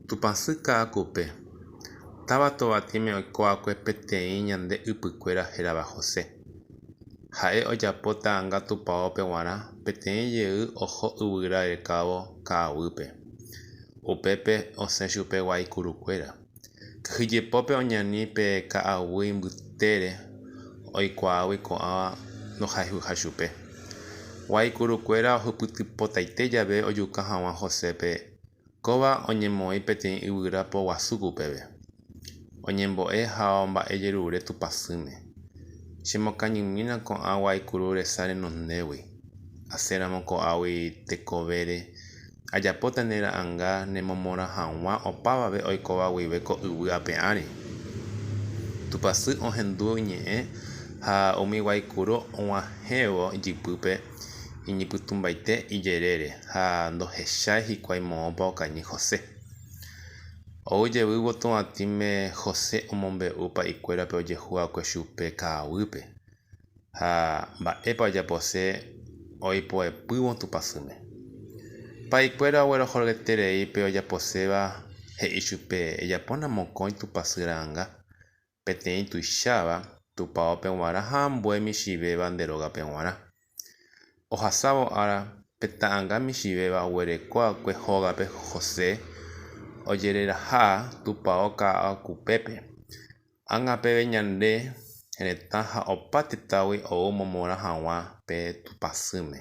Tupãsy ka'akupe, táva tovatĩme oikóva'ekue peteĩ ñande ypykuéra hérava José. Ha'e ojapo ta'ãnga tupaópe g̃uarã peteĩ jey oho yvyra rekávo ka'aguýpe. Upépe osẽ chupe guaikurukuéra. Kyhyjepópe oñani pe ka'aguy mbytére oikuaágui ko'ãva ndohayhuha chupe. Guaikurukuéra ohypytypotaite jave ojuka hag̃ua Josépe Kóva oñemoĩ peteĩ yvyra poguasúpe upéve, oñembo'e ha omba'ejerure tupãsýme. Chemokañymína ko'ã guaikuru resa renondégui, asẽramo ko'águi tekovére, ajapóta ne ra'anga nemomorã hag̃ua opávave oikóva guive ko yvy ape ári. Tupãsy ohendu iñe'ẽ ha umi guaikuru og̃uahẽvo ijypýpe. iñypytũmbaite ijerére ha ndohechái hikuái moõpa okañy José. Ou jevy votoatĩme José omombe'u pa'ikuérape ojehu va'ekue chupe ka'aguýpe ha mba'épa ojapose oipoepývo Tupã syme. Pa'ikuéra oguerohoryterei pe ojaposéva he'i chupe ejapóna mokõi Tupã sy ra'anga Peteĩ tuicháva tupaópe g̃uarã ha ambue michĩvéva nde rógape g̃uarã. Ohasávo ára, pe ta'anga michĩvéva oguereko akue hógape José ojereraha tupao ka'akupépe. Ág̃a peve ñande retã ha opa tetãgui ou momorã hag̃ua pe tupãsýme.